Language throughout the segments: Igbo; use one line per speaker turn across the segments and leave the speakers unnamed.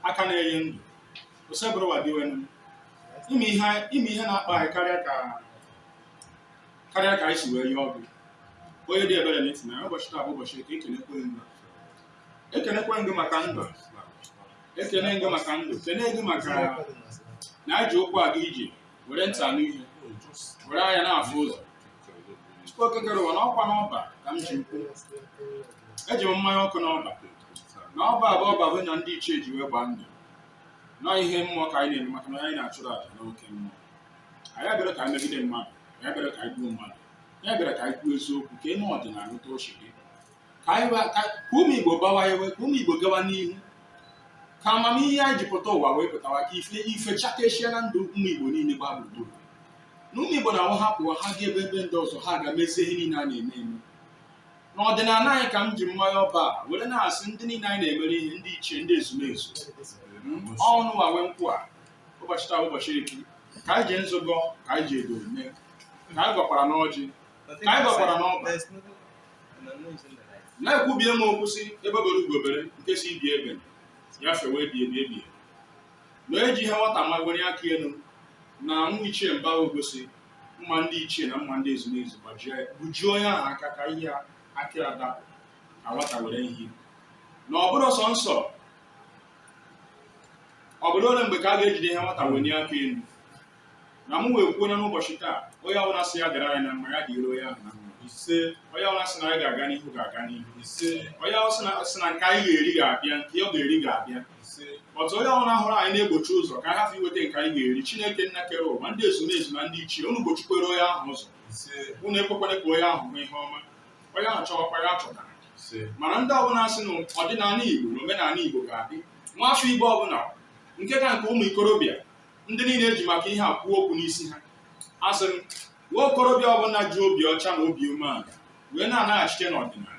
aka na-enye ndụ osebụrụwa dinwenụ ị ma ihe ị ma ihe na-akpa anyị karịa ka karịa ka anyị si wee yọọ gị onye dị ebere n'eti na ụbọchị taa bụ ụbọchị eke ekenekwe ndụ ekenekwe ndụ maka ndụ ekene ndụ maka ndụ kene ndụ maka na anyị ji ụkwụ aga ije were ntị anụ ihe were anya na-afụ ụzọ Chukwu okike kere ụwa na ọkwa n'ọba ka m ji ukwu eji m mmanya ọkụ n'ọba na ọba a bụ ọba bụ na ndị ichie ji wee gbaa ndụ na ihe mmụọ ka anyị na-eme maka na anyị na-achụrụ aja n'oke mmụọ anyị abịarọ ka anyị megide mmadụ anyị abịarọ ka anyị gbuo mmadụ anyị bịara ka anyị kwuo eziokwu ka e mee ọdịnala otu o si dị ka anyị ba- ka ka ụmụ igbo gbawa ewe ka ụmụ igbo gawa n'ihu ka amamihe anyị ji pụta ụwa wee pụtawa ka ife ife chakeshia na ndụ ụmụ igbo niile gbaa gburugburu na ụmụ igbo na-awụ ha pụọ ha gaa ebe ebe ndị ọzọ ha gaa mezie ihe niile a na-eme eme n'ọdịnala anyị ka m ji mmanya ọba a were na-asị ndị niile anyị na-emere ihe ndị ichie ndị ezumezu ụnụwa nwe nkwụ a ụbọchị taa bụ ụbọchị eke ka anyị ji nzu gọọ ka anyị ji edo mee ka anyị gọkwara n'ọjị ka anyị gọkwara n'ọba na ekwubie m okwu sị egbe bere ugo bere nke sị ibe ya ebena ya fewe ebighị ebi na eji ihe nwata ma were aka elu na nwa ichie mba ogosi mma ndị ichie na mma ndị ezumezu gbajie ya gbujie onye ahụ aka ka ihe aka ya dapụ ka nwata were ihe na ọ bụ arụ ọ sọ nsọ ọ bụdụ ole mgbe ka a ga-ejide ihe nwata wenie aka elu na m wee kwuo n'ụbọchị taa onye ọbụla sị ya gara anyị na mma ya gara onye ahụ na mma ise onye ọbụla sị na anyị ga-aga n'ihu ọ ga-aga n'ihu ise onye ọbụla sị na nke anyị ga-eri ga-abịa nke ọ ga-eri ga-abịa but onye ọbụla hụrụ anyị na-egbochi ụzọ ka a hafụ iweta nke anyị ga-eri chineke nna kere ụwa ndị ezumezu na ndị ichie unu gbochikwere onye ahụ ụzọ unu ekwekwana ka onye ahụ hụ ihe ọma onye ahụ chọwakwa ya achọtana mana ndị ọbụla sị na ọdịnala igbo na omenala igbo ga-adị nwa afọ igbo ọbụla nke ka nke ụmụ ikorobịa ndị niile eji maka ihe a kwuo okwu n'isi ha asị m nwa okorobịa ọbụla ji obi ọcha na obi umeala wee na-anaghachite n'ọdịnala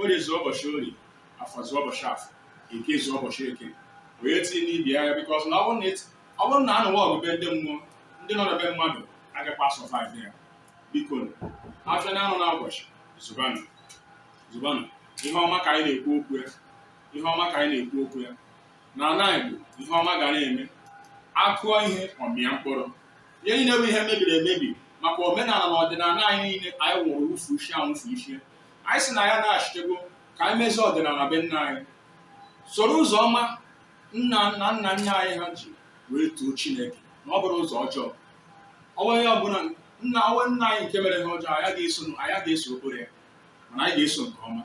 orie zụọ ụbọchị orie afọ zụọ ụbọchị afọ eke zụọ ụbọchị eke wee tinye n'ibi agha because na ọ bụrụ na a nụwa ọgụ be ndị mmụọ ndị nọ na be mmadụ agakwa survive ya biko afịa na-azụ na ụbọchị zụbanụ zụbanụ ihe ọma ka anyị na-ekwu okwu ya ihe ọma ka anyị na-ekwu okwu ya na ala Igbo ihe ọma ga na-eme a kụọ ihe ọ mịa mkpụrụ ihe niile bụ ihe mebiri emebi maka omenala na ọdịnala anyị niile anyị nwụrụ wufu isi anwụfu isi anyị si na ya naghachitego ka anyị mezie ọdịnala be nna anyị soro ụzọ ọma nna nna nna nna anyị ha ji wee too chineke na ọ bụrụ ụzọ ọjọọ ọnwa onye ọbụla nna ọnwa nna anyị nke mere ha ọjọọ anyị ga-eso anyị ga-eso okporo ya mana anyị ga-eso nke ọma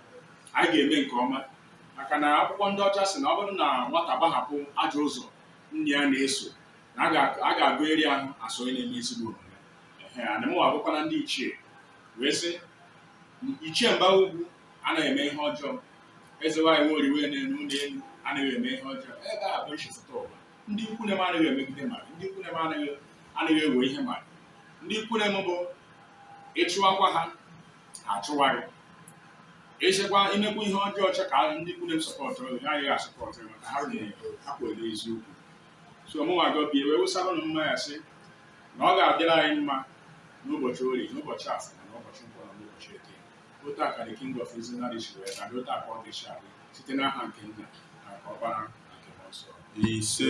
anyị ga-eme nke ọma maka na akwụkwọ ndị ọcha si na ọ bụrụ na nwata gbahapụ ajọ ụzọ nne ya na-eso na a ga-agụ eri ahụ asọ onye na-eme ezigbo omume ee ana m abụkwana ndị ichie wee sị ichie mba ugwu anaghị eme ihe ọjọọ eze nwaanyị nwe oriwe na-enu ụlọ elu anaghị eme ihe ọjọọ ebe a bụ nchịkọta ụwa ndị ikwu nne m anaghị emegide mmadụ ndị ikwu nne m anaghị anaghị ewe ihe mmadụ ndị ikwu nne m bụ ị chụwakwa ha ha achụwa gị ị chekwa i mekwa ihe ọjọọ chọọ ka ndị ikwu nne m sọpọtụ gị ha agaghị asọpọtụ gị maka ha rụrụ ha kwere eziokwu so mụnwa gọbie wee wụsara ụnụ mmanya sị na ọ ga-adịrị anyị mma n'ụbọchị orie n'ụbọchị afọ na n'ụbọchị nkwọ na n'ụbọchị eke otu a ka the king of izinari si wee ka dị otu a ka ọ ga-esi adị site n'aha nke nna na nke ọkpara na nke mmụọ nsọ ise